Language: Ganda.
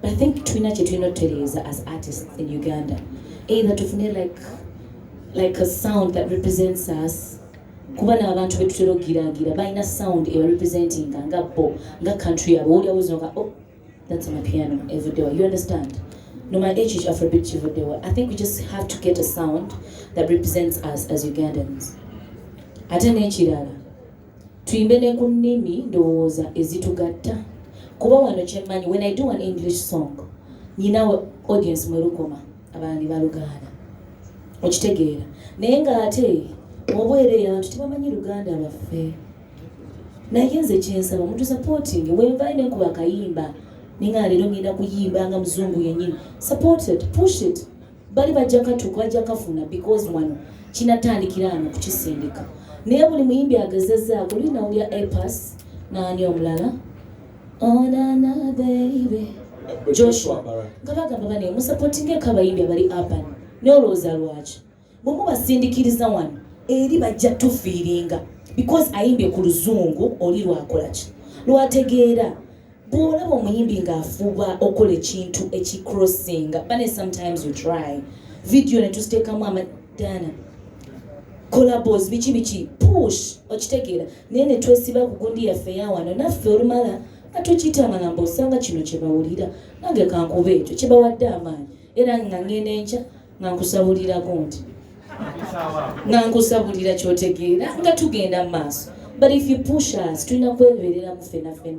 I think tulina kye tulina otutereeza as artists in Uganda either tufune like like a sound that represents us kuba n'abantu be tutera okugiraagira balina sound ewa representinga nga bo nga country yabo owulira buzinoka oh that's my piano evuddewa you understand no my age is afrobeat kivuddewa i think we just have to get a sound that represents us as ugandans ate n'ekirala tuyimbe ne ku nnimi ndowooza ezitugatta kuba wano kyemmanyi when i do an english song nyina audience mwe lukoma abalala ne balugaana okitegeera naye ng'ate obwereere abantu tebamanyi luganda lwaffe naye nze kyensaba omuntu supporting wenvayo nenkuba akayimba ninga leero ngenda kuyimba nga muzungu yenyini supported push it bali bajja katuka bajja kafuna because wano kinatandikira ano kukisindika naye buli muyimbi agezezaako linawulya apas naani omulala onana oh, beibe joshua nga bagamba bane musapotinga ekabayimbi abali apan naye olowooza lwaki bwemu basindikiriza wano eri bajja tufiiringa because ayimbye ku luzungu oli lwakolaki lwategeera bwolaba omuyimbi ng'afuba okola ekintu ekicrossinga bane sometimes you try video netuziteekamu amadana collabos biki biki push okitegeera naye netwesiba ku gundi yaffe yawano naffe olumala atukitama namba osanga kino kyebawulira nange kankuba ekyo kyebawadde amaanyi era nga ngenda enkya nga nkusabulirako nti nga nkusabulira kyotegeera nga tugenda mu maaso but if you push us tulina kwebereramu fenafena